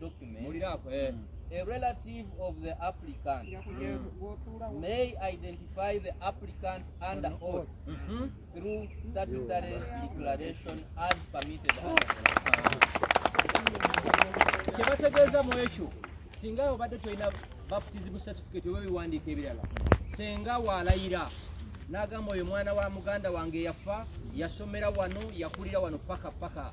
documents eh. mm. a relative of the applicant mm. may identify the applicant under mm-hmm. oath mm -hmm. through statutory declaration as permitted kyebategeeza mu ekyo singa obadde tolina baptism certificate oba ebiwandiiko ebirala senga walayira n'agamba oyo mwana wa muganda wange yafa yasomera wano yakulira wano paka paka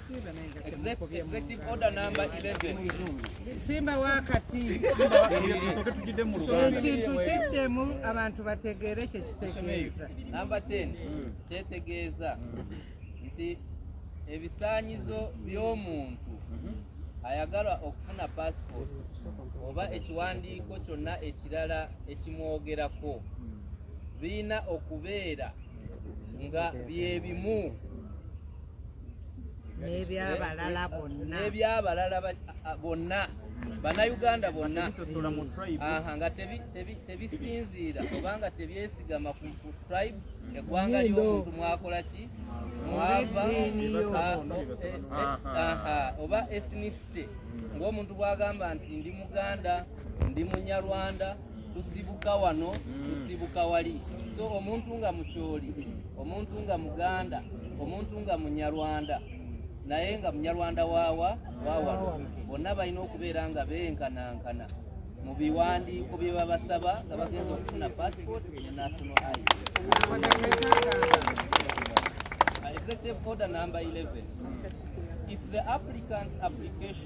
Executive order number 11. Simba wakati ekintu kiddemu abantu bategeere kye kitegeeza. Number 10 kyetegeeza nti ebisaanyizo by'omuntu ayagala okufuna paasipooti oba ekiwandiiko kyonna ekirala ekimwogerako birina okubeera nga bye bimu n'ebyabalala bonna n'ebyabalala bonna bannayuganda bonna aha nga tebisinziira obanga tebyesigama ku tribe eggwanga ly'omuntu mwakola ki mwava oba ethnicity ng'omuntu bwagamba nti ndi muganda ndi munyarwanda lusibuka wano lusibuka wali so omuntu nga mukyoli omuntu nga muganda omuntu nga munyarwanda naye nga munyarwanda waawa waawano bonna balina okubeera nga benkanankana mu biwandiiko bye babasaba nga bagenza okufuna passport ne national id executive order number 11 if the applicant's application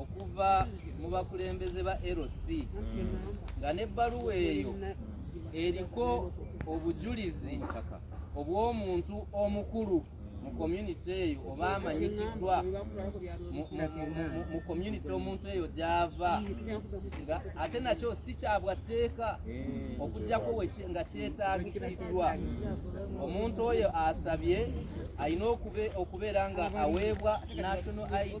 okuva mu bakulembeze ba LC nga n'ebbaluwa eyo eriko obujulizi obw'omuntu omukulu mu community eyo oba amanyikiddwa mu community omuntu eyo gy'ava nga ate nakyo si kyabwa tteeka okujjako nga kyetaagisiddwa omuntu oyo asabye alina okubeera nga aweebwa national id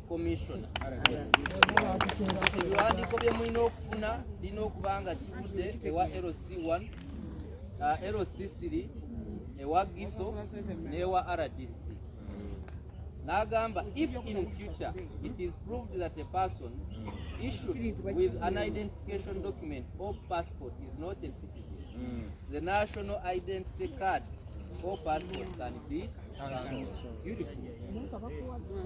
commissioner ebiwandiiko bye mulina okufuna kirina okuba nga kivudde ewa lc1 uh, lc3 ewa giso n'ewa rdc n'agamba if in future it is proved that a person issued with an identification document or passport is not a citizen the national identity card or passport can be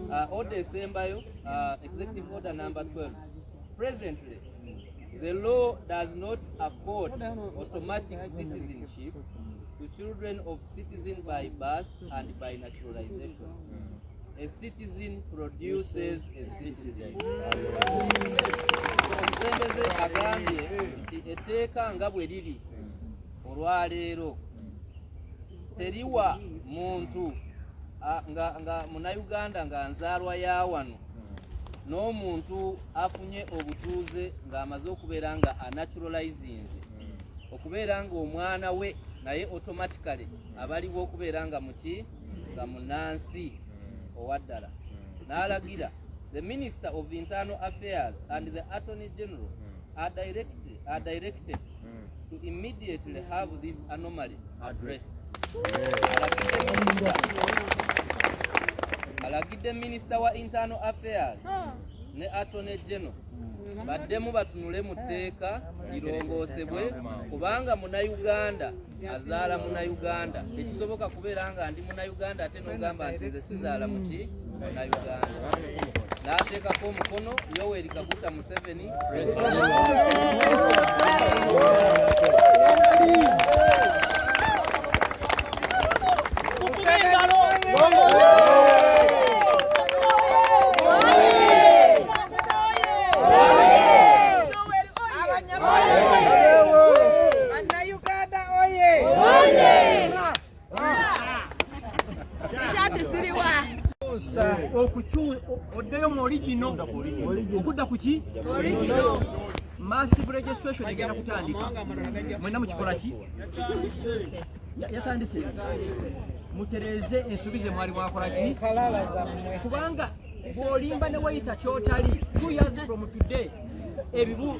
Uh, order esembayo uh, executive order number 12 presently the law does not accord automatic citizenship to children of citizen by birth and by naturalization a citizen produces a citizen omukulembeze agambye nti etteeka nga bwe liri olwaleero teriwa muntu nga, nga munauganda nga nzaalwa ya wano n'omuntu afunye obutuuze ng'amaze okubeera nga anaturalizinze okubeera ng'omwana we naye automatically abaliwo okubeera nga muki nga munansi owaddala n'alagira the minister of internal affairs and the attorney general are directed, are directed to immediately have this anomaly addressed. Alagidde minister wa internal affairs ne attorney general baddemu batunule mu tteeka lirongoosebwe kubanga munayuganda azaala munayuganda tekisoboka kubeera nga ndi munayuganda ate nogamba nti nze sizaala muki n'ateekako omukono yoweri kaguta museveni oddeyo mu oligino okudda ku ki massive registration egenda kutandika mwena mukikola ki yatandise mutereeze ensobi ze mwali mwakola ki kubanga bw'olimba ne weyita kyotali two years from today ebibu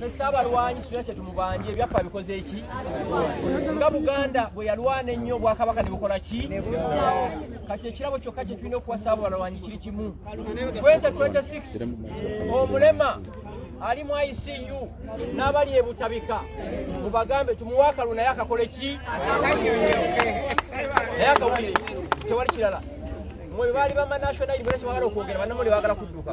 fesi abalwanyi sina kyetumubanje ebyaffe abikoze eki nga buganda bwe yalwana ennyo obwakabaka ne bukola ki kati ekirabo kyokka kye tulina okuwasa abo balwanyi kiri kimu 2026 omulema ali mu ICU n'abali ebutabika mubagambe tumuwa akalulu naye akakole ki naye akawulire tewali kirala mwe baali bama national university bagala okwogera banamuli bagala kudduka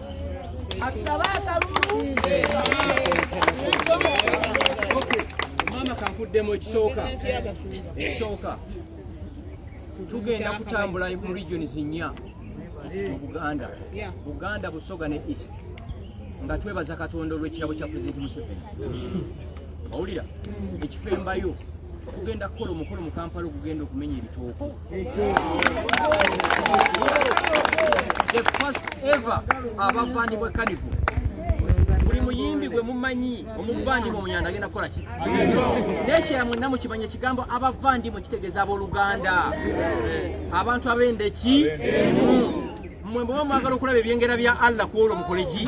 maama kankuddemu ekisooka ekisooka tugenda kutambula mu regioni zinnya mu buganda buganda busoga ne east nga twebaza katonda olw'ekirabo kya pulezidenti museveni owulira ekifo embayo okugenda kukola omukolo mu kampala okugenda okumenya ebitooko the first ever abavandimwe kanivu buli muyimbi gwe mumanyi omuvandimwe omunyanda agenda kukola ki nekyera mwenna mukimanya ekigambo abavandimwe kitegeeza abooluganda abantu abenda eki mwe mwemuba mwagala okulaba ebyengera bya allah ku olwo mukoleki